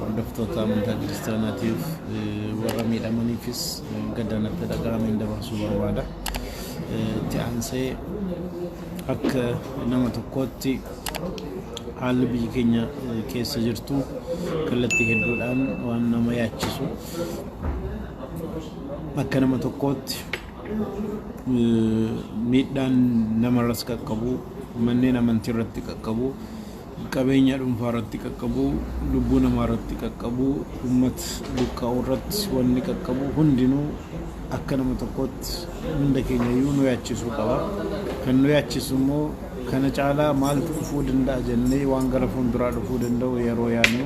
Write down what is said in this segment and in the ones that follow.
hordoftoota amantaa kiristaanaatiif warra miidhamaniifis gaddaan natti dhaga'ameen dabarsuu barbaada. Itti aansee akka nama tokkootti haalli biyyi keenya keessa jirtu kallattii hedduudhaan waan nama yaachisu akka nama tokkootti miidhaan namarras qaqqabu manneen amantii irratti qaqqabu Qabeenya dhunfaa irratti qaqqabu, lubbuu namaa irratti qaqqabu, ummat buqqa'u irratti wanni qaqqabu hundinuu akka nama tokkootti hunda keenya iyyuu nu yaachisuu qaba. Kan nu yaachisu immoo kana caalaa maaltu dhufuu danda'a jennee waan gara fuulduraa dhufuu danda'u yeroo yaadnu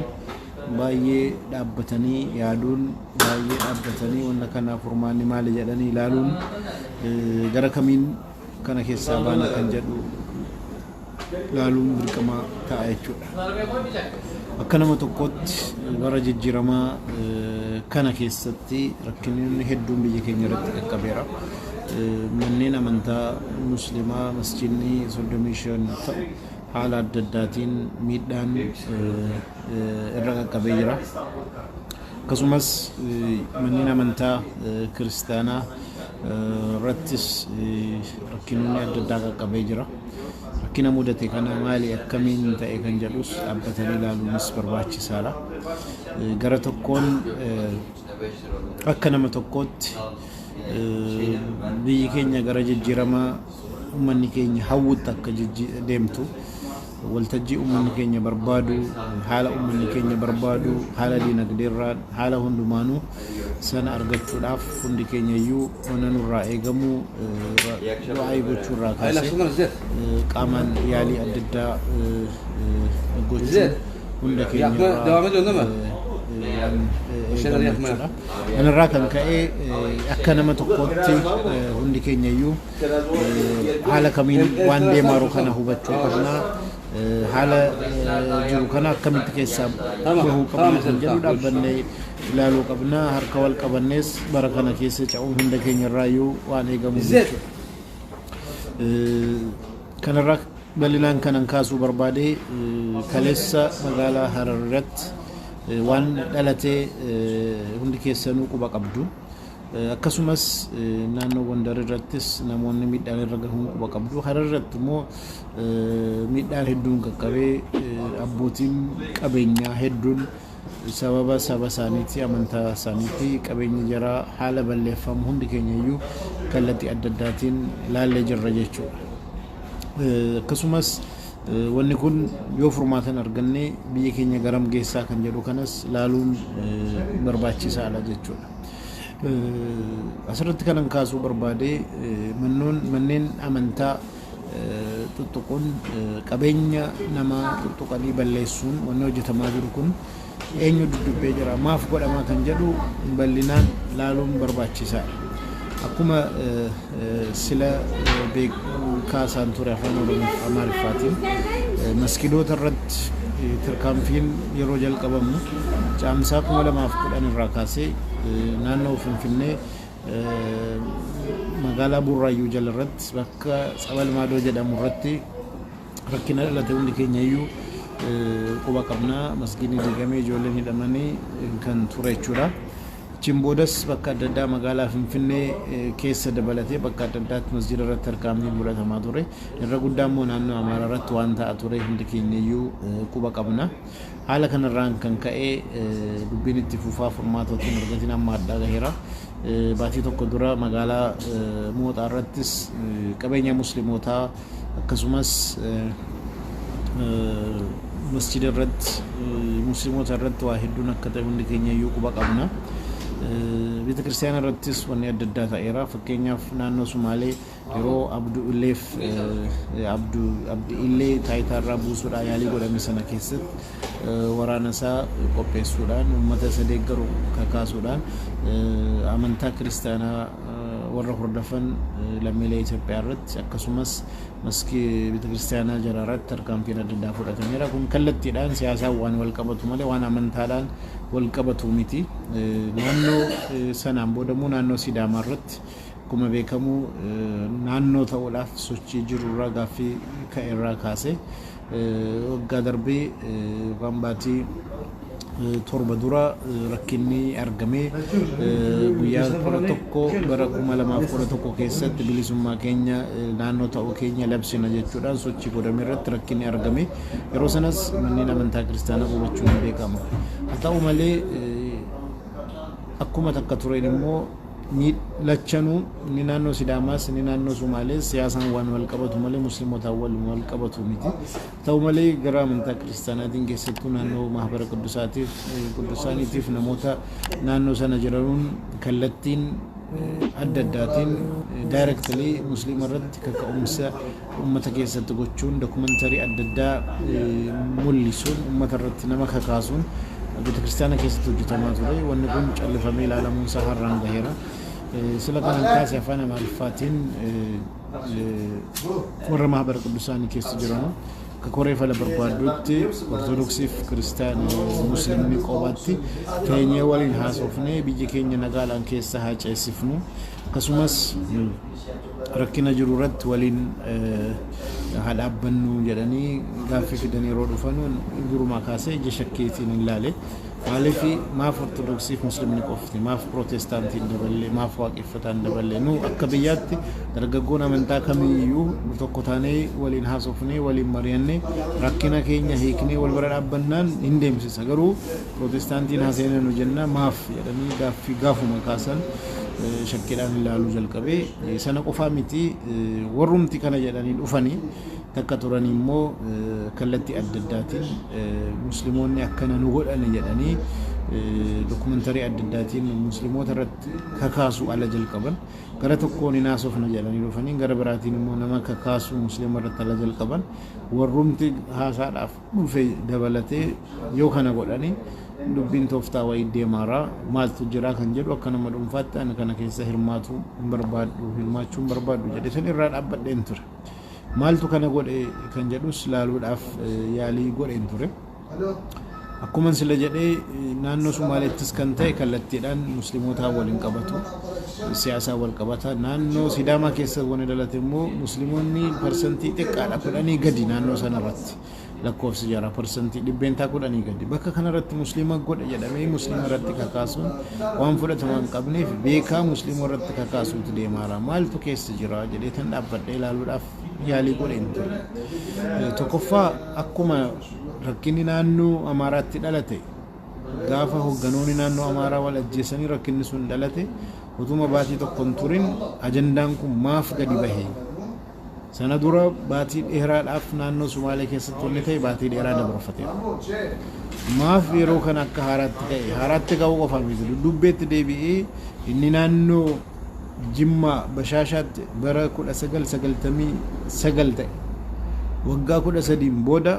baay'ee dhaabbatanii yaaduun baay'ee dhaabbatanii wanna kanaaf furmaanni maali jedhanii ilaaluun gara kamiin Kana keessaa baana kan jedhu laaluun dirqama ta'a jechuudha. Akka nama tokkootti bara jijjiiramaa kana keessatti rakkinoonni hedduun biyya keenya irratti qaqqabeera. Manneen amantaa musliimaa masjiidni 35 ta'u haala adda addaatiin miidhaan irra qaqqabee jira. Akkasumas manneen amantaa kiristaanaa irrattis rakkinoonni adda addaa qaqqabee jira. Rakkina mudate kana maali akkamiin ta'e kan jedhus dhaabbatanii ilaaluunis barbaachisaadha. Gara tokkoon akka nama tokkootti biyyi keenya gara jijjiirama uummanni keenya hawwutti akka deemtu Waltajjii ummanni keenya barbaadu, haala ummanni keenya barbaadu, haala dinagdeerraan, haala hundumaanuu sana argachuudhaaf hundi keenyayyuu wanna nurraa eegamu du'aa'ii gochuurraa kaasee qaamaan yaalii adda addaa gochuun hunda keenyarraa waan eegamu jechuudha. Kanarraa kan ka'e akka nama tokkootti hundi keenyayyuu haala kamiin waan deemaa jiru kana hubachuu qabna haala jiru kana akkamitti keessaa bahuu qabna kan jedhu dhaabbannee ilaaluu qabna harka wal qabannees bara kana keessa ce'uun hunda keenya irraayyuu waan eegamu jechuudha. Kanarraa bal'inaan kanan kaasuu barbaade kaleessa magaalaa Harar irratti waan dhalatee hundi keessanuu quba qabdu. Akkasumas naannoo Gondar irrattis namoonni miidhaan irra gahuun quba qabdu. Harar irratti immoo miidhaan hedduun qaqqabee abbootiin qabeenyaa hedduun sababa saba isaaniitii amantaa isaaniitii qabeenyi jaraa haala balleeffamu hundi keenya iyyuu kallattii adda addaatiin ilaallee jirra jechuudha. Akkasumas wanni kun yoo furmaata hin arganne biyya keenya garam geessaa kan jedhu kanas ilaaluun barbaachisaadha jechuudha. Asirratti kanan kaasuu barbaade manneen amantaa tuttuquun qabeenya namaa tuttuqanii balleessuun wanni hojjetamaa jiru kun eenyu duddubbee jira maaf godhamaa kan jedhu bal'inaan laaluun barbaachisaadha. Akkuma Sila beekaasaan ture Afaan Oromoof Amaariffaatiin. Maskidoota irratti tarkaanfiin yeroo jalqabamu Caamsaa 2010 irraa kaasee naannoo Finfinnee magaalaa Burraayyuu jala irratti bakka Tsabal Maadoo jedhamu irratti rakkina dhalate hundi keenya iyyuu quba qabna. Masgiidni diigamee ijoolleen hidhamanii kan ture jechuudha. Achiin boodas bakka adda addaa magaalaa Finfinnee keessa dabalatee bakka adda addaatti masjiida irratti tarkaanfiin fudhatamaa ture. Irra guddaa immoo naannoo Amaaraa irratti waan ta'aa ture hundi keenyayyuu quba qabna. Haala kanarraan kan ka'e dubbiin itti fufaa furmaata otoo hin argatiin amma addaa gaheera. Baatii tokko dura magaalaa Mooxaa irrattis qabeenya muslimootaa akkasumas masjida irratti musliimota irratti waa hedduun akka ta'e hundi keenya iyyuu quba qabna. Beeta kiristaana irrattis wanni adda addaa ta'eera. Fakkeenyaaf naannoo Sumaalee yeroo Abdu Illeef Abdu Abdi Illee taayitaa irraa buusuudhaa yaalii godhame sana keessatti waraana isaa qopheessuudhaan, ummata isa deeggaru kakaasuudhaan amantaa kiristaanaa warra hordofan lammiilee Itoophiyaa irratti akkasumas maskii beetakiristaanaa jaraa irratti tarkaanfiin adda addaa fudhatameera. Kun kallattiidhaan siyaasaan waan wal qabatu malee waan amantaadhaan wal qabatu miti. Naannoo sanaan booda immoo naannoo Sidaamaa irratti akkuma beekamu naannoo ta'uudhaaf sochii jiru irraa gaaffii ka'e irraa kaasee Waggaa darbe yookaan baatii torba dura rakkinni argame guyyaa kudha tokko bara kuma lamaaf kudha tokko keessatti bilisummaa keenya naannoo ta'uu keenya labsina jechuudhaan sochii godhame irratti rakkinni argame yeroo sanas manneen amantaa kiristaanaa gubachuun ni beekama. Haa ta'u malee akkuma takka tureen immoo ni lachanuu inni naannoo Sidaamaas inni naannoo Somaalees siyaasaan waan wal qabatu malee Musliimotaan waliin wal qabatu miti. Ta'u malee gara amantaa kiristaanaatiin keessattuu naannoo mahabara quddusaatiif quddusaaniitiif namoota naannoo sana jiranuun kallattiin adda addaatiin directly musliima irratti kaka'umsa ummata keessatti gochuun documentary adda addaa mullisuun ummata irratti nama kakaasuun beetakiristaana keessatti hojjetamaa ture wanni kun callifamee ilaalamuun isaa har'aan gaheera sila kanan kaase afaan amaariffaatiin warra mahabara quddusaanii keessa jiranu akka koree fala barbaadduutti ortodoksiif kiristaan muslimni qobaatti teenyee waliin haasofnee biyya keenya nagaadhaan keessa haa ceessifnu akkasumas rakkina jiru irratti waliin haa dhaabbannu jedhanii gaaffii fidan yeroo dhufanu durumaa kaasee ija shakkiitiin hin laale. Maaliif maaf ortodoksiif muslimni qofti maaf pirootestaantiin daballee maaf waaqeffataan daballee nu akka biyyaatti dargaggoon amantaa kamiyyuu tokko taanee waliin haasofnee waliin mari'annee rakkina keenya hiiknee wal bira dhaabbannaan hin deemsisa garuu Pirootestaantiin haa seenanu jennaan maaf jedhanii gaaffii gaafuma kaasan shakkiidhaan ilaaluu jalqabe. Sana qofaa miti warrumti kana jedhanii dhufanii takka turanii immoo kallattii adda addaatiin Musliimoonni akkana nu godhani jedhanii dokumantarii adda addaatiin Musliimoota irratti kakaasuu ala jalqaban. Gara tokkoon hin haasofna jedhanii dhufanii gara biraatiin immoo nama kakaasuu Musliima irratti ala jalqaban. Warrumti haasaadhaaf dhufe dabalatee yoo kana godhani dubbiin tooftaa wayii deemaara. Maaltu jira kan jedhu akka nama dhuunfaatti ani kana keessa hirmaatu hin barbaaddu, hirmaachuu hin barbaaddu jedheetan irraa dhaabbadheen ture. Maaltu kana godhe kan jedhus laaluudhaaf yaalii godheen ture. Akkuman sila jedhee naannoo Sumaaleettis kan ta'e kallattiidhaan muslimootaa waliin qabatu siyaasaa wal qabata. Naannoo Sidaamaa keessa wani dhalate immoo muslimoonni parsantii xiqqaadha kudhanii gadi naannoo sanarratti. keessatti lakkoofsi jaraa parsantii dhibbeentaa kudhanii gadi. Bakka kanarratti musliima godha jedhamee musliima irratti kakaasuun waan fudhatama hin qabneef beekaa musliima irratti kakaasuutu deemaara. Maaltu keessa jira jedhee tan dhaabbadhee ilaaluudhaaf yaalii godheen ture. Eh, Tokkoffaa akkuma rakkinni naannoo Amaaraatti dhalate gaafa hogganoonni naannoo Amaaraa wal ajjeesanii rakkinni sun dhalate utuma baatii tokko hin turin ajandaan kun maaf gadi bahe Sana dura baatii dheeraadhaaf naannoo Sumaalee keessatti wanni ta'e baatii dheeraa dabarfateera. Maaf yeroo kana akka haaraatti ka'e? Haaraatti ka'uu qofa miti. Dudduubbeetti deebi'ee inni naannoo Jimmaa Bashaashaatti bara 1999 ta'e. Waggaa 13 booda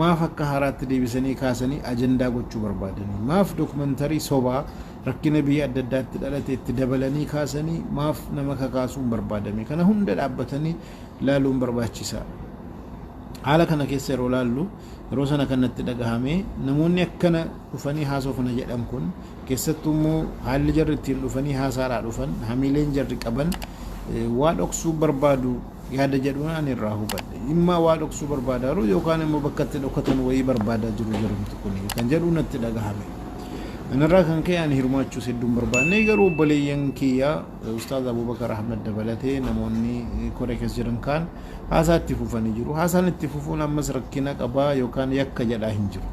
maaf akka haaraatti deebisanii kaasanii ajandaa gochuu barbaadanii? Maaf dookumantarii sobaa Rakkina biyya adda addaatti dhalate itti dabalanii kaasanii maaf nama kakaasuun barbaadame? Kana hunda dhaabbatanii laaluun barbaachisa. Haala kana keessa yeroo laallu yeroo sana kan natti dhagahame namoonni akkana dhufanii haasofna jedhan kun keessattuu immoo haalli jarri ittiin dhufanii haasaadhaa dhufan hamiileen jarri qaban waa dhoksuu barbaadu yaada jedhuun ani irraa hubadhe. Dhimma waa dhoksuu barbaadaaru yookaan immoo bakka itti dhokatan wayii barbaadaa jiru jarumti kuni kan jedhu natti dhagahame. Kanarraa kan ka'e ani hirmaachuus hedduu hin barbaanne garuu obboleeyyan kiyya Ustaaz Abubakar Ahmed dabalatee namoonni koree keessa jiran kaan haasaa itti fufanii jiru. Haasaan itti fufuun ammas rakkina qaba yookaan yakka jedhaa hin jiru.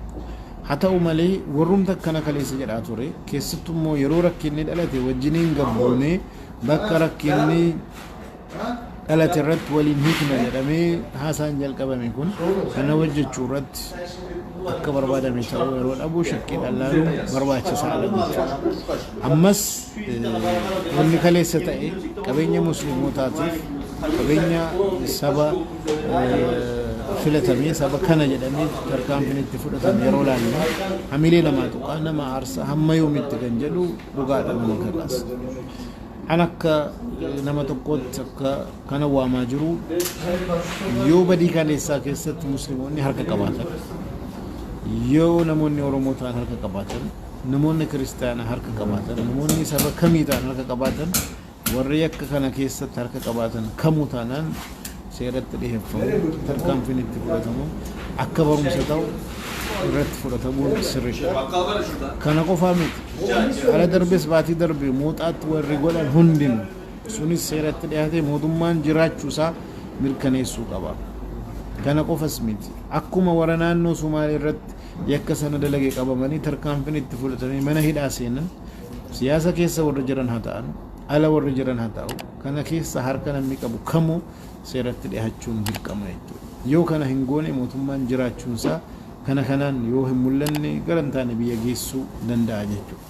Haa ta'u malee warrumti akkana kaleessa jedhaa ture keessattu immoo yeroo rakkinni dhalate wajjiniin gabbuunee bakka rakkinni dhalate irratti wal hin hiikna jedhamee haasaan jalqabame kun kana hojjechuu irratti akka barbaadame ta'uu yeroo dhabu shakkii dhallaaluun barbaachisaa dha jechuudha. Ammas wanni kaleessa ta'e qabeenya musliimotaatiif qabeenya saba filatamee saba kana jedhamee tarkaanfiin itti fudhatame yeroo laallu hamilee namaa tuqaa nama aarsa hamma yoomitti kan jedhu dhugaadha nama kakaasa. An akka nama tokkootti akka kana waamaa jiru yoo badii kaleessaa keessatti muslimoonni harka qabaatan yoo namoonni oromoo ta'an harka qabaatan namoonni kiristaanaa harka qabaatan namoonni saba kamii ta'an harka qabaatan warri akka kana keessatti harka qabaatan kamuu taanaan seeratti dhiheffamu tarkaanfiin itti fudhatamu akka barumsa ta'u irratti fudhatamuun sirridha. Kana qofaa miti. Kana darbes baatii darbe mooxaatti warri godhan hundin sunis seeratti dhiyaatee mootummaan jiraachuu isaa mirkaneessuu qaba. Kana qofas miti. Akkuma wara naannoo Sumaalee irratti yakka sana dalage qabamanii tarkaanfiin itti fudhatamee mana hidhaa seenan siyaasa keessa warri jiran haa ta'an ala warri jiran haa ta'u Kana keessa harka namni qabu kamuu seeratti dhihachuun dirqama jechuudha. Yoo kana hin goone mootummaan jiraachuun isaa kana kanaan yoo hin mul'anne gara hin taane biyya geessuu danda'a jechuudha.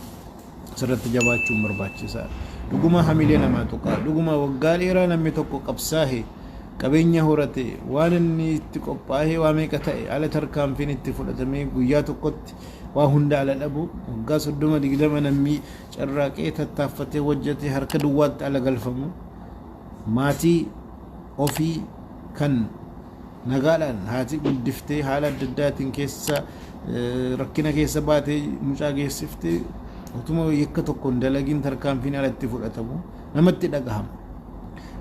Asirratti jabaachuun barbaachisaadha. Dhugumaa hamilee namaa tuqaa. Dhugumaa waggaa dheeraa namni tokko qabsaahe qabeenya horate waan inni itti qophaa'ee waa meeqa ta'e ala tarkaanfiin itti fudhatamee guyyaa tokkotti waa hunda ala dhabu waggaa soddoma digdama namni carraaqee tattaaffatee hojjete harka duwwaatti ala galfamu maatii ofii kan nagaadhaan haati guddiftee haala adda addaatiin keessa rakkina keessa baatee mucaa geessifte utuma yakka tokkoon dalagiin tarkaanfiin alatti fudhatamu namatti dhagahama.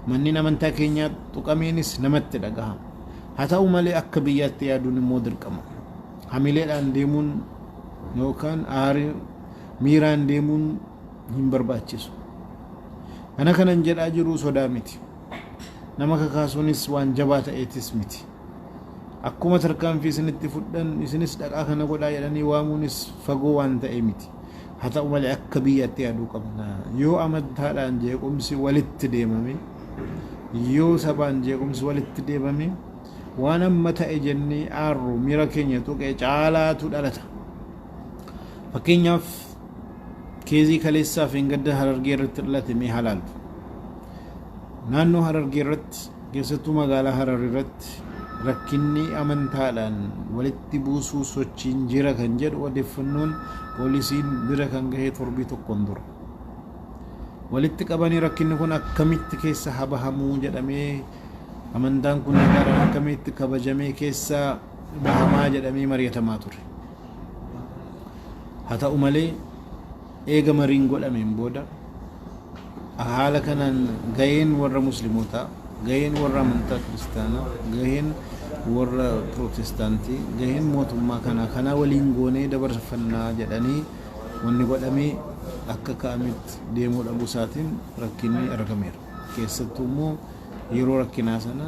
Manneen amantaa keenyaa tuqameenis namatti dhagahama. Haa ta'u malee akka biyyaatti yaaduun immoo dirqama. Hamileedhaan deemuun yookaan aarii miiraan deemuun hin barbaachisu. Kana kanan jedhaa jiruu sodaa miti. Nama kakaasuunis waan jabaa ta'eetis miti. Akkuma tarkaanfii isinitti fudhan isinis dhaqaa kana godhaa jedhanii waamuunis fagoo waan ta'ee miti. Haa ta'u malee akka biyyaatti yaaduu qabna. Yoo amantaadhaan jeequmsi walitti deemame, yoo sabaan jeequmsi walitti deemame, waan amma ta'e jennee aarru miira keenya tuqe caalaatu dhalata. Fakkeenyaaf keezii kaleessaa fi gadda harargee irratti dhalate mee halaaltu. Naannoo harargee irratti keessattuu magaalaa harar irratti rakkinni amantaadhaan walitti buusuu sochiin jira kan jedhu odeeffannoon poolisiin bira kan gahe torbii tokkoon dura. Walitti qabanii rakkinni kun akkamitti keessa habahamuu jedhamee amantaan kun akkamitti kabajamee keessa dhahamaa jedhamee mari'atamaa ture. Haa ta'u malee eega mariin godhameen booda haala kanaan gaheen warra muslimootaa, gaheen warra amantaa kiristaanaa, gaheen warra pirootestaantii, gaheen mootummaa kanaa kanaa waliin goonee dabarfannaa jedhanii wanni godhamee akka ka'ametti deemuu dhabuu isaatiin rakkinni argameera. Keessattuu immoo yeroo rakkinaa sana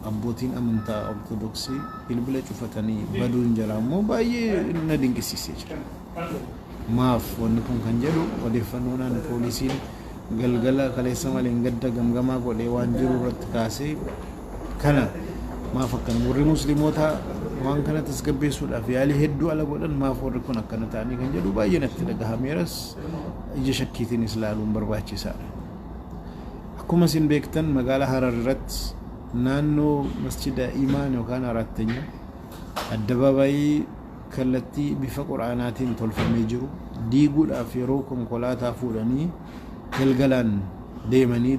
Abbootiin amantaa Ortodoksii bilbila cufatanii baduun jaraa immoo baay'ee na dinqisiisee jira. Maaf wanni kun kan jedhu odeeffannoodhaan poolisiin galgala kaleessa maleen gadda gamgamaa godhee waan jiru irratti kaasee kana maaf akkana warri musliimootaa waan kana tasgabbeessuudhaaf yaalii hedduu ala godhan maaf warri kun akkana ta'anii kan jedhu baay'ee natti dhagahameeras ija shakkiitiinis ilaaluun barbaachisaadha. Akkuma isin beektan magaalaa Harar irratti naannoo masjida Imaan yookaan Araattanya addabaabaayii kallattii bifa quraanaatiin tolfamee jiru diiguudhaaf yeroo konkolaataa fuudhanii galgalaan deemanii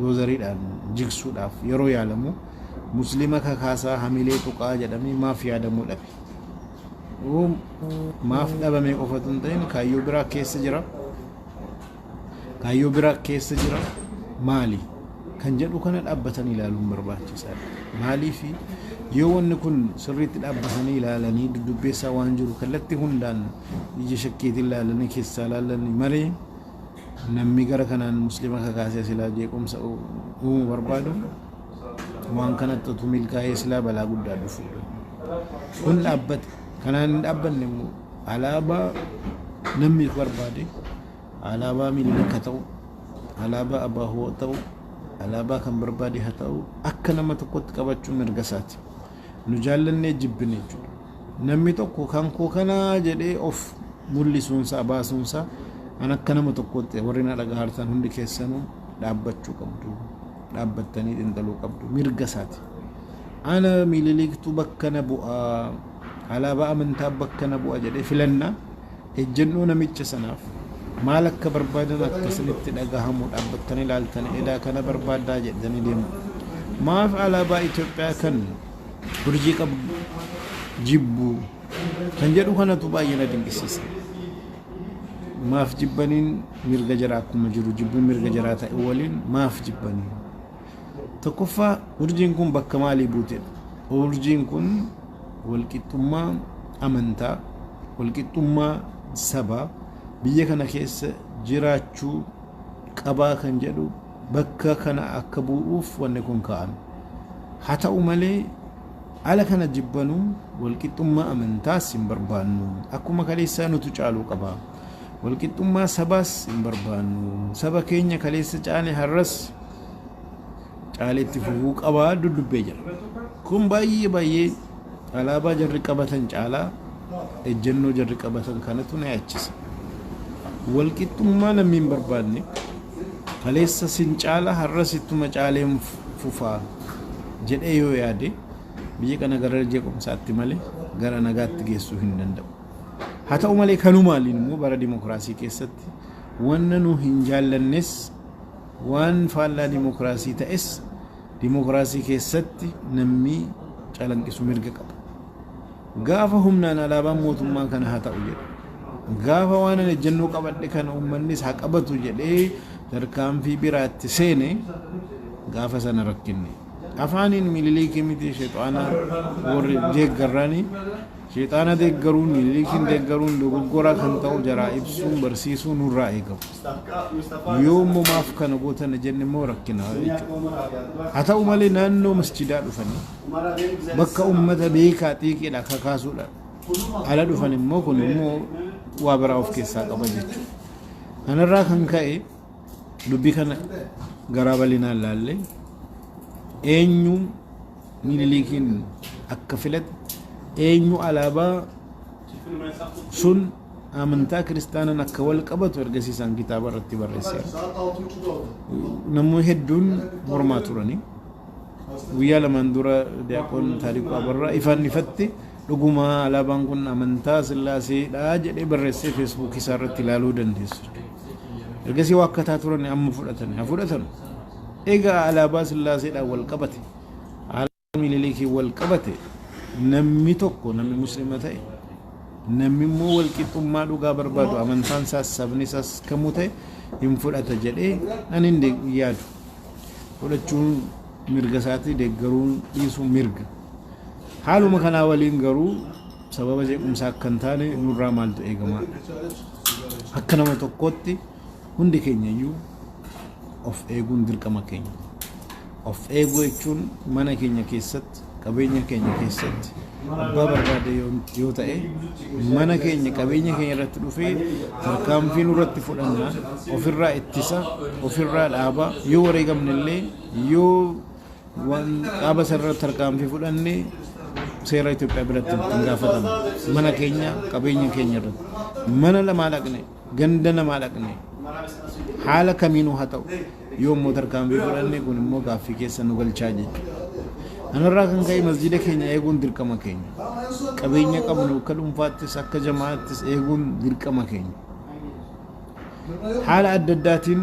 doozariidhaan jigsuudhaaf yeroo yaalamu muslima kakaasaa hamilee tuqaa jedhamee maaf yaadamuu dhabe. Maaf dhabamee qofa otoo hin ta'in kaayyoo biraa keessa jira. Kaayyoo biraa keessa jira maali? Kan jedhu kana dhaabbatanii ilaaluun barbaachisaadha. Maaliif yoo wanni kun sirriitti dhaabbatanii ilaalanii dudubbeessaa waan jiru kallattii hundaan ija shakkiitiin ilaalanii keessaa ilaalanii malee namni gara kanaan muslima kakaasee silaa jeequmsa uumuu barbaadu waan kanatti utuu milkaa'ee silaa balaa guddaa dhufuudha. Kun dhaabbata. Kanaan hin dhaabbanne immoo alaabaa namni barbaade alaabaa Minilik haa ta'u, alaabaa Abaahoo haa ta'u, alaabaa kan barbaade haa ta'u akka nama tokkotti qabachuun mirga isaati. Nu jaallannee jibbine jechuudha. Namni tokko kan koo kanaa jedhee of mul'isuunsaa baasuunsaa an akka nama tokkotti warri na dhagahartan hundi keessanuu dhaabbachuu qabdu. Dhaabbattanii xinxaluu qabdu. Mirga isaati. Ana Mililiktu bakka na bu'a, alaabaa amantaa bakka na bu'a jedhee filanna ejjennoo namicha sanaaf maal akka barbaadan akka isinitti dhagahamu dhaabbattanii ilaaltanii edaa kana barbaaddaa jedhanii deemu. Maaf alaabaa Itoophiyaa kan urjii qabu jibbu kan jedhu kanatu baay'ee na dinqisiisa. Maaf jibbaniin mirga jaraa akkuma jiru jibbuun mirga jaraa ta'e waliin maaf jibbaniin? Tokkoffaa, urjiin kun bakka maalii buutedha? Urjiin kun walqixxummaa amantaa, walqixxummaa sabaa biyya kana keessa jiraachuu qabaa kan jedhu bakka kana akka bu'uuf wanni kun kaa'ame. Haa ta'u malee ala kana jibbanuu walqixxummaa amantaas hin barbaannu. Akkuma kaleessaa nutu caaluu qaba. Walqixxummaa sabaas hin barbaannu. Saba keenya kaleessa caale har'as caalee itti fufuu qabaa duddubbee jira. Kun baay'ee baay'ee alaabaa jarri qabatan caalaa ejjennoo jarri qabatan kanatu na yaachisa. Walqixxummaa lammiin barbaadne kaleessa sin caala har'as ittuma caaleen fufaa jedhee yoo yaade biyya kana gara jeequmsaatti malee gara nagaatti geessuu hin danda'u. Haa ta'u malee kanumaaliin immoo bara dimokiraasii keessatti wanna nu hin jaallannes Waan faallaa dimokraasii ta'es dimokraasii keessatti nammi calanqisu mirga qaba. Gaafa humnaan alaabaan mootummaa kana haa ta'u jedhe, gaafa waanan ejjennoo qabadhe kana uummannis haa qabatu jedhee tarkaanfii biraatti seene gaafa sana rakkinni. Afaaniin Miniliikii miti shexaana warri deeggarrani. Shexaana deeggaruun, Miniliikiin deeggaruun dogoggoraa kan ta'u jaraa ibsuun barsiisuu nurraa eegamu. Yoommoo maaf kana goota na jenne immoo rakkina jechuudha. Haa ta'u malee naannoo masjidaa dhufanii bakka uummata beekaa xiiqiidha kakaasuudhaan ala dhufan immoo kun immoo waa biraa of keessaa qaba jechuudha. Kanarraa kan ka'e dubbii kana garaa bal'inaan laallee eenyuun miniliikiin akka filate eenyu alaabaa sun amantaa kiristaanan akka wal qabatu ergasii isaan kitaaba irratti barreesseera. Namoonni hedduun mormaa turani. Guyyaa lamaan dura Diyaaqoon Taariquu Abarraa ifaan ifatti dhugumaa alaabaan kun amantaa Sillaaseedha jedhee barreessee feesbuukii isaa irratti ilaaluu dandeessu. Ergasii waa akkataa turan amma fudhatani. Haa fudhatan. Egaa alaabaa Sillaaseedhaan wal qabate. Minilikiin wal qabate namni tokko namni muslima ta'e namni immoo wal qixxummaa dhugaa barbaadu amantaan isaas sabni isaas kamuu ta'e hin fudhata jedhee ani hin de- yaadu fudhachuun mirga isaatii deeggaruun dhiisuun mirga haaluma kanaa waliin garuu sababa jeequmsaa akka hin taane nurraa maaltu eegama akka nama tokkootti Hundi keenya iyyuu of eeguun dirqama keenya. Of eeguu jechuun mana keenya keessatti, qabeenya keenya keessatti abbaa barbaade yoo yoo ta'e mana keenya qabeenya keenya irratti dhufee tarkaanfii nurratti fudhanna ofirraa ittisa ofirraa dhaaba yoo wareegamne illee yoo waan dhaaba sanarratti tarkaanfii fudhanne seera Itoophiyaa biratti hin gaafatama mana keenya qabeenya keenya irratti mana lamaa dhaqne ganda namaa dhaqnee haala kamiinuu haa ta'u yoo immoo tarkaanfii fudhanne kun immoo gaaffii keessa nu galchaa jechuudha. Kanarraa kan ka'e masjiida keenya eeguun dirqama keenya. Qabeenya qabnu akka dhuunfaattis akka jamaattis eeguun dirqama keenya. Haala adda addaatiin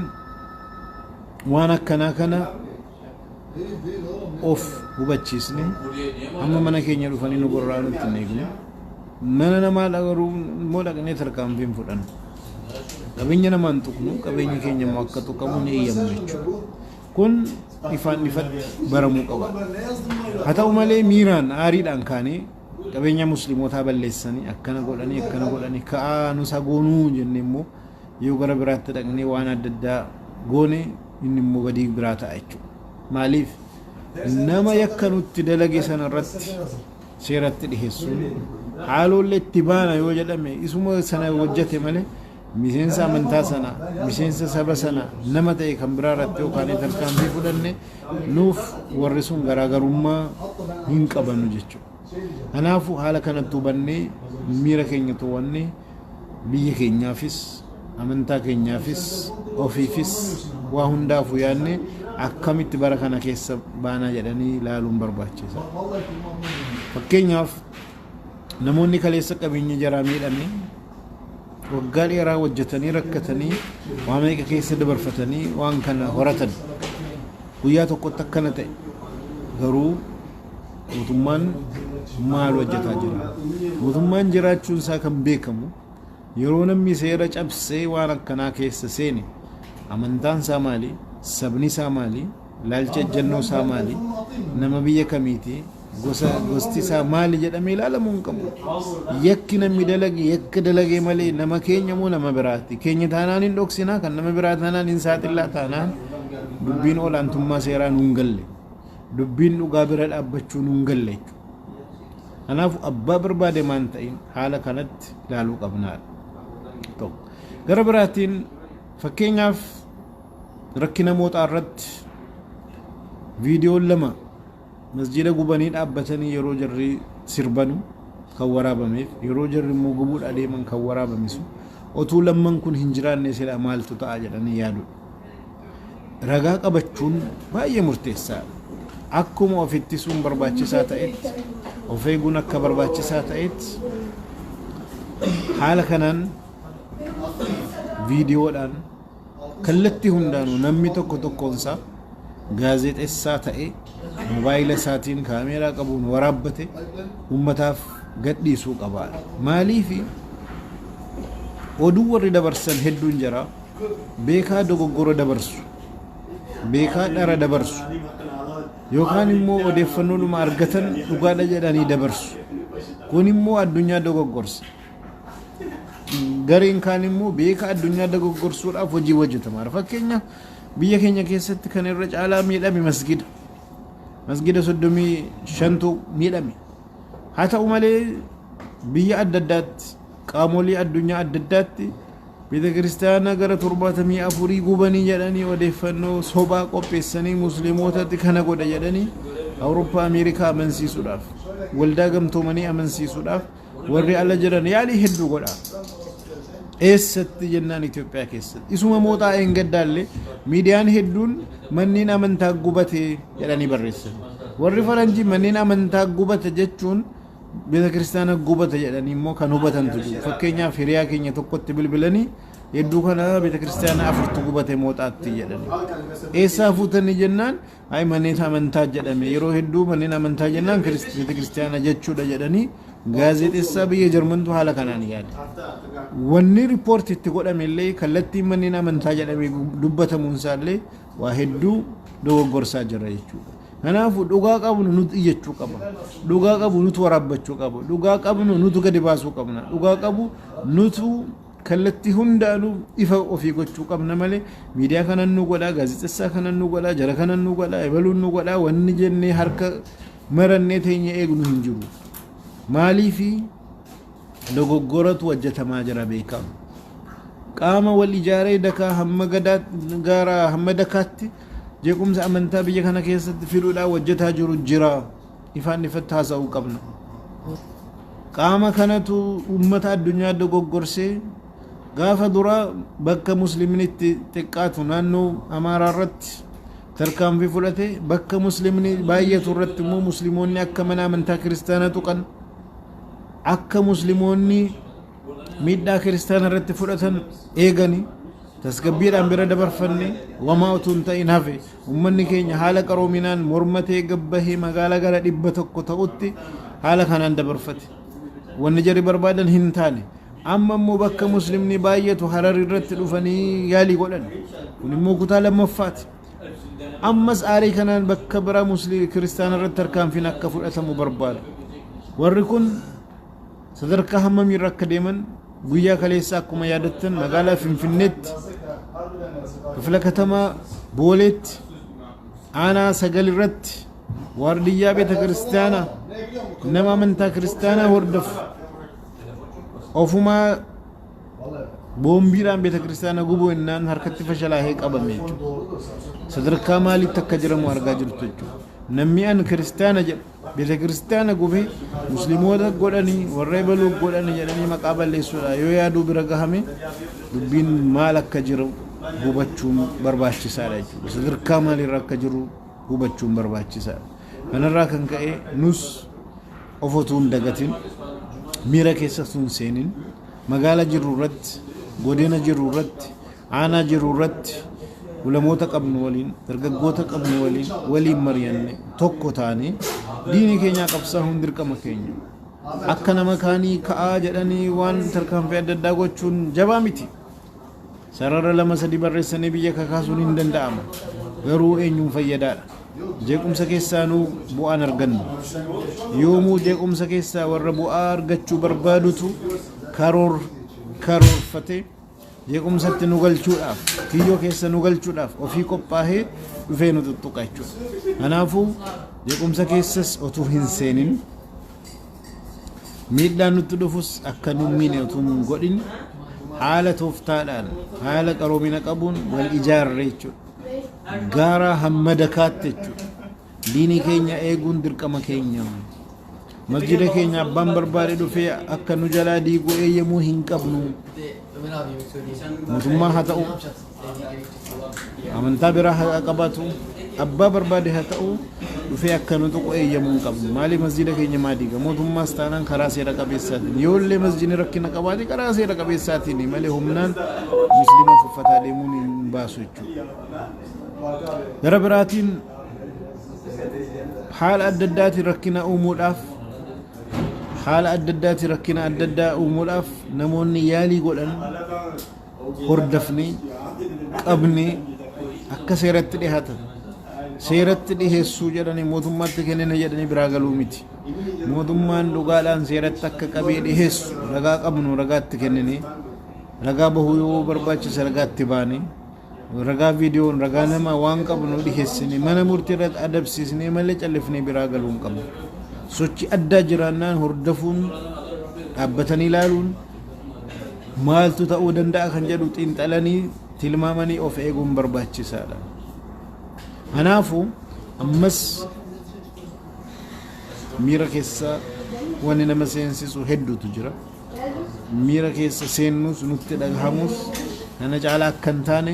waan akkanaa kana of hubachiisne amma mana keenya dhufanii nu gorraa nutti hin eegne mana namaa dhagaruu immoo dhaqnee tarkaanfii hin fudhannu qabeenya namaan tuqnu qabeenya keenya immoo akka tuqamu ni eeyyamu jechuudha kun ifaan ifatti baramuu qaba haa ta'u malee miiraan aariidhaan kaanee qabeenya muslimootaa balleessanii akkana godhanii akkana godhanii ka'aa nusa goonuu jennee immoo Yoo gara biraatti dhaqnee waan adda addaa goone inni immoo badii biraa ta'a jechuudha. Maaliif nama yakka nutti dalage sana irratti seeratti dhiheessuun haaloollee itti baana yoo jedhame isuma sana hojjate malee miseensa amantaa sana miseensa saba sana nama ta'e kan biraa irratti yookaan tarkaanfii fudhanne nuuf warri sun garaagarummaa hin qabanu jechuudha. Kanaafuu haala kanatti hubannee miira keenya to'annee Biyya keenyaafis, amantaa keenyaafis, ofiifis waa hundaafuu yaadnee akkamitti bara kana keessa baana jedhanii ilaaluun barbaachisaadha. Fakkeenyaaf namoonni kaleessa qabeenya jaraa miidhame waggaa dheeraa hojjetanii rakkatanii waa meeqa keessa dabarfatanii waan kana horatan guyyaa tokkotti akkana ta'e garuu Mootummaan maal hojjetaa jira? Mootummaan jiraachuun isaa kan beekamu yeroo namni seera cabsee waan akkanaa keessa seene amantaan isaa maali? Sabni isaa maali? Ilaalcha ejjennoo isaa maali? Nama biyya kamiiti? Gosa gosti isaa maali jedhamee ilaalamuu hin qabu. Yakki namni dalage yakka dalagee malee nama keenya moo nama biraati? Keenya taanaan hin dhoksinaa kan nama biraa taanaan hin saaxillaa taanaan dubbiin olaantummaa seeraa nuun galle. Dubbiin dhugaa bira dhaabbachuu nuun galle jechuudha. Kanaafuu abbaa barbaade maan ta'in haala kanatti ilaaluu qabnaadha. Tokko. Gara biraatiin fakkeenyaaf rakkina mooxaa irratti viidiyoon lama masjiida gubanii dhaabbatanii yeroo jarri sirbanu kan waraabameef yeroo jarri immoo gubuudha adeeman kan waraabame sun otuu lamman kun hin jiraanne silaa maaltu ta'a jedhanii yaadudha. ragaa qabachuun baay'ee murteessaadha. Akkuma of ittisuun barbaachisaa ta'etti, of eeguun akka barbaachisaa ta'etti haala kanaan viidiyoodhaan kallattii hundaanuu namni tokko tokkoonsaa gaazexessaa ta'ee mobaayila isaatiin kaameeraa qabuun waraabbate ummataaf gadhiisuu qaba. Maaliif oduu warri dabarsan hedduun jira. beekaa dogoggora dabarsu, beekaa dhara dabarsu, yookaan immoo odeeffannoodhuma argatan dhugaadha jedhanii dabarsu. Kun immoo addunyaa dogoggorsa. Gareen kaan immoo beekaa addunyaa dogoggorsuudhaaf hojii hojjetama. Fakkeenyaaf biyya keenya keessatti kan irra caalaa miidhame masgida. Masgida soddomii shantu miidhame. Haa ta'u malee biyya adda addaatti Qaamolii addunyaa adda addaatti Beeta kiristaana gara torbaatamii afurii gubanii jedhanii odeeffannoo sobaa qopheessanii musliimootatti kana godha jedhanii Awurooppaa Ameerikaa amansiisuudhaaf waldaa gamtoomanii amansiisuudhaaf warri ala jiran yaalii hedduu godha. Eessatti jennaan Itoophiyaa keessatti. Isuma mooxaa eengaddaallee miidiyaan hedduun manneen amantaa gubate jedhanii barreessan. Warri faranjii manneen amantaa gubata jechuun Betakiristaana gubata jedhanii immoo kan hubatantu jiru. Fakkeenyaaf hiriyaa keenya tokkotti bilbilanii hedduu kana betakiristaana afurtu gubate mooxaatti jedhanii. Eessaa fuutanii jennaan ayi manneen amantaa jedhame yeroo hedduu manneen amantaa jennaan kirist- betakiristaana jechuudha jedhanii gaazexessaa biyya Jarmantu haala kanaan yaade. Wanni riippoorti itti godhame illee kallattiin manneen amantaa jedhamee dubbatamuun isaa illee waa hedduu dogoggorsaa jira jechuudha. Kanaafu dhugaa qabnu nutu iyyachuu qaba. Dhugaa qabu nutu waraabbachuu qaba. Dhugaa qabnu nutu gadi baasuu qabna. Dhugaa qabu nutu kallattii hundaanuu ifa ofii gochuu qabna malee miidiyaa kanan nu godhaa, gaazexessaa kanan nu godhaa, jara kanan nu godhaa, ebaluun nu godhaa wanni jennee harka marannee teenya eegnu hin jiru. Maaliifi dogoggoratu hojjetamaa jira beekamu. Qaama wal ijaaree dakaa hamma gadaa gaara hamma dakaatti Jeequmsa amantaa biyya kana keessatti fiduudhaaf hojjetaa jiru jira. Ifaan ifatti haasa'uu qabna. Qaama kanatu uummata addunyaa dogoggorsee gaafa duraa bakka musliimni itti xiqqaatu naannoo Amaaraa irratti tarkaanfii fudhate bakka musliimni baay'atu irratti immoo musliimoonni akka mana amantaa kiristaanaa tuqan akka musliimoonni miidhaa kiristaana irratti fudhatan eegani tasgabbiidhaan bira dabarfanne wamaa utuu hin ta'in hafe ummanni keenya haala qaroominaan mormatee gabbahee magaalaa gara dhibba tokko ta'utti haala kanaan dabarfate wanni jarri barbaadan hin taane amma immoo bakka muslimni baay'atu harar irratti dhufanii yaalii godhan kun immoo kutaa lammaffaati ammas aarii kanaan bakka biraa musliim kiristaana irratti tarkaanfiin akka fudhatamu barbaadu warri kun sadarkaa hammamiirra akka deeman guyyaa kaleessaa akkuma yaadattan magaalaa Finfinneetti kifla katamaa Booleetti aanaa sagal irratti waardiyyaa beeta kiristaanaa nama amantaa kiristaanaa hordofu ofumaa boombiidhaan beeta kiristaanaa gubuu innaan harkatti fashalaahee qabame jechuudha. Sadarkaa maaliitti akka jiramu argaa jirtu jechuudha. Namni an kiristaana jedhu Beetekiristaana gube, Muslimoota godhani, warra ebaluu godhani jedhanii maqaa balleessuudha yoo yaaduu bira gahame dubbiin maal akka jiru hubachuun barbaachisaadha jechuudha. Sadarkaa maaliirra akka jiru hubachuun barbaachisaadha. Kanarraa kan ka'e nus of otuu hin dagatin miira keessa tun seenin magaala jirru irratti godina jirru irratti Aanaa jirru irratti ulamoota qabnu waliin, dargaggoota qabnu waliin, waliin mari'anne tokko taanee diinii keenyaa qabsaahuun dirqama keenya. Akka nama kaanii ka'aa jedhanii waan tarkaanfii adda addaa gochuun jabaa miti. Sarara lama sadii barreessanii biyya kakaasuun hin danda'ama. Garuu eenyuun fayyadaadha. Jeequmsa keessaanuu bu'aan argannu. Yoomuu jeequmsa keessaa warra bu'aa argachuu barbaadutu karoor karoorfatee jeequmsatti nu galchuudhaaf, kiyyoo keessa nu galchuudhaaf ofii qophaahee dhufee nu tuttuqa jechuudha. Kanaafuu jeequmsa keessas otuu hin seenin miidhaan nutti dhufus akka nu miine otuu hin godhin haala tooftaadhaan haala qaroomina qabuun wal ijaarre jechuudha. Gaara hamma dakaatti jechuudha. Diinii keenya eeguun dirqama keenya. Masjiida keenya abbaan barbaade dhufee akka nu jalaa diigu eeyyamuu hin qabnu. Mootummaa haa ta'u, amantaa biraa haa qabaatu, abbaa barbaade haa ta'u, dhufee akka nu tuqu eeyyamuu hin qabnu. Maaliif masjiida keenya maa diiga? Mootummaas taanaan karaa seera qabeessaatiin. Yoo illee masjiidni rakkina qabaate karaa seera qabeessaatiin malee humnaan musliima tuffataa deemuun hin baasu jechuudha. Gara biraatiin haala adda addaatiin rakkina uumuudhaaf haala adda addaatiin rakkina adda addaa uumuudhaaf namoonni yaalii godhan hordofnee qabnee akka seeratti dhihaatan seeratti dhiheessuu jedhanii mootummaatti kennina jedhanii biraa galuu miti mootummaan dhugaadhaan seeratti akka qabee dhiheessu ragaa qabnu ragaatti kennine ragaa bahuu yoo barbaachise ragaatti baane Ragaa viidiyoon ragaa namaa waan qabnu dhiheessine mana murtii irratti adabsiisnee malee callifnee biraa galuu hin qabnu. Sochii addaa jiraannaan hordofuun dhaabbatanii ilaaluun maaltu ta'uu danda'a kan jedhu xiinxalanii tilmaamanii of eeguun barbaachisaadha. Kanaafuu ammas miira keessa wanni nama seensisu hedduutu jira. Miira keessa seennus nutti dhagahamus kana caalaa akka hin taane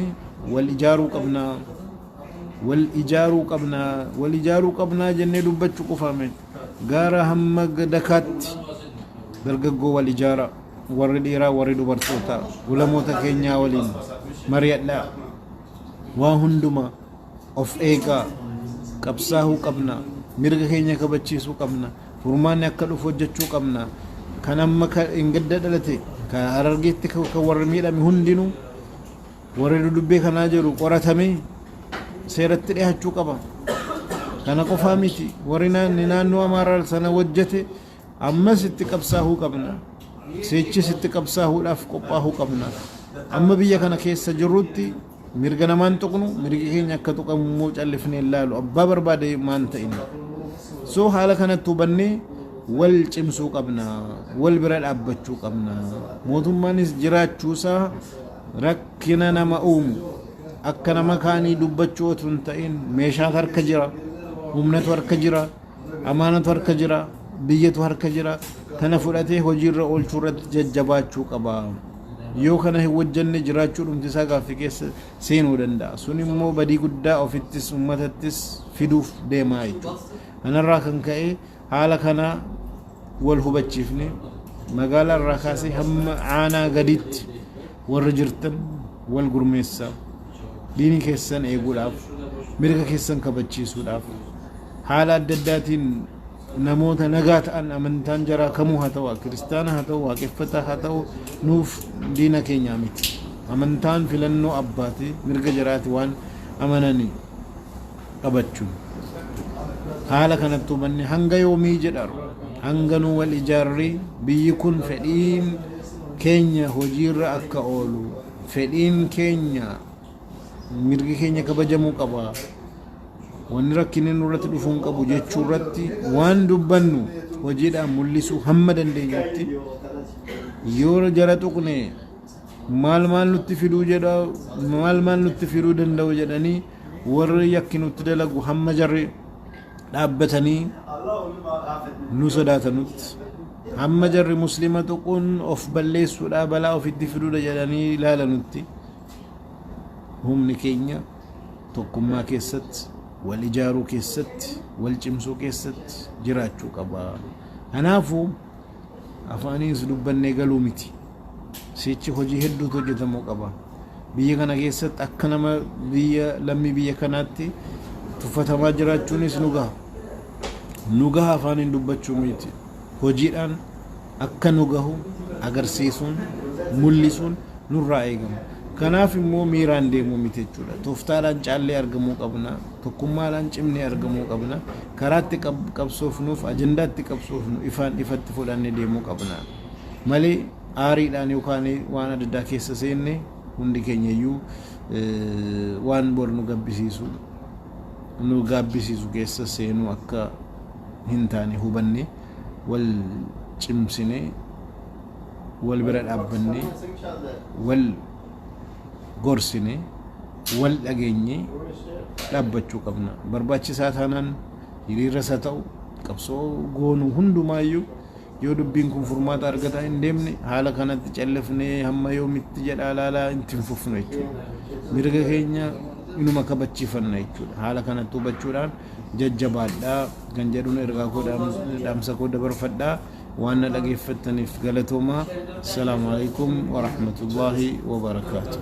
wal ijaaruu qabna. Wal ijaaruu qabna. Wal ijaaruu qabnaa jennee dubbachuu qofaa miti. Gaara hamma dakaatti dargaggoo wal ijaaraa. Warri dhiiraa warri dubartootaa ulamoota keenyaa waliin mari'adhaa. Waa hundumaa. of eegaa qabsaahuu qabna mirga keenya kabachiisuu qabna furmaanni akka dhufu hojjechuu qabna kan amma ka engadda dhalate ka harargeetti ka ka warri miidhame hundinuu warri dudubbee kanaa jiru qoratamee seeratti dhihachuu qaba kana qofaa miti warri naanni naannoo amaaraa sana hojjete Ammas itti qabsaahuu qabna. Sichis itti qabsaahuudhaaf qophaahuu qabna. Amma biyya kana keessa jirrutti mirga namaa hin tuqnu, mirgi keenya akka tuqamu immoo callifnee hin laalu. Abbaa barbaade maan ta'in. So haala kanatti hubannee wal cimsuu qabna. Wal bira dhaabbachuu qabna. Mootummaanis jiraachuusaa rakkina nama uumu akka nama kaanii dubbachuu otuu hin ta'in meeshaatu harka jira, humnatu harka jira. Amaanatu harka jira, biyyatu harka jira. Kana fudhatee hojiirra oolchuu irratti jajjabaachuu qaba. Yoo kana hin hojjenne jiraachuudhumti isaa gaaffii keessa seenuu danda'a. Sun immoo badii guddaa ofittis uummatattis fiduuf deemaa jechuudha. Kanarraa kan ka'e haala kana wal hubachiifne magaalaa irraa kaasee hamma aanaa gadiitti Warri jirtan wal gurmeessaa, diini keessan eeguudhaaf, mirga keessan kabachiisuudhaaf, haala adda addaatiin namoota nagaa ta'an amantaan jaraa kamuu haa ta'u, kiristaana haa ta'u, waaqeffataa haa ta'u, nuuf diina keenyaa miti. Amantaan filannoo abbaati, mirga jaraati waan amananiif. qabachun. Haala kanatti hubanne hanga yoomii jedharu hanga nu wal ijaarree biyyi kun fedhiin keenya hojiirra akka oolu fedhiin keenya mirgi keenya kabajamuu qaba wanni rakkinni nurratti dhufuu hin qabu jechuu irratti waan dubbannu hojiidhaan mul'isuu hamma dandeenyutti yoo jara tuqne maal maal nutti fiduu jedha maal maal nutti fiduu danda'u jedhanii warri yakki nutti dalagu hamma jarri dhaabbatanii nu sodaatanutti hamma jarri muslima tuquun of balleessuudha balaa ofitti fiduudha jedhanii ilaalanutti humni keenya tokkummaa keessatti wal ijaaruu keessatti wal cimsuu keessatti jiraachuu qaba. Kanaafuu afaaniis dubbannee galuu miti. Sichi hojii hedduutu hojjetamuu qaba. Biyya kana keessatti akka nama biyya lammii biyya kanaatti tuffatamaa jiraachuunis nu gaha. Nu gaha afaaniin dubbachuu miti. Hojiidhaan akka nu gahu agarsiisuun mul'isuun nurraa eegama. Kanaaf immoo miiraan deemuu miti jechuudha. Tooftaadhaan caallee argamuu qabna. Tokkummaadhaan cimnee argamuu qabna. Karaatti qabsoofnuuf ajandaatti qabsoofnu ifaan ifatti fudhannee deemuu qabna. Malee aariidhaan yookaan waan adda addaa keessa seenne hundi keenya iyyuu waan bor nu gabbisiisu nu gaabbisiisu keessa seenuu akka hin taane hubanne wal cimsine wal bira dhaabbanne wal gorsine wal dhageenye dhaabbachuu qabna. Barbaachisaa taanaan hiriirras haa ta'u qabsoo goonu hundumaayyuu Yoo dubbiin kun furmaata argataa hin deemne haala kanatti callifnee hamma yoomitti jedhaa laalaa itti hin fufnu jechuudha. Mirga keenya inuma kabachiifanna jechuudha. Haala kanatti hubachuudhaan jajjabaadhaa kan jedhuun ergaa koo dhaamsa koo dabarfadhaa. Waan na dhageeffattaniif galatoomaa. Assalaamu alaikum wa rahmatullaahi wa barakaatuh.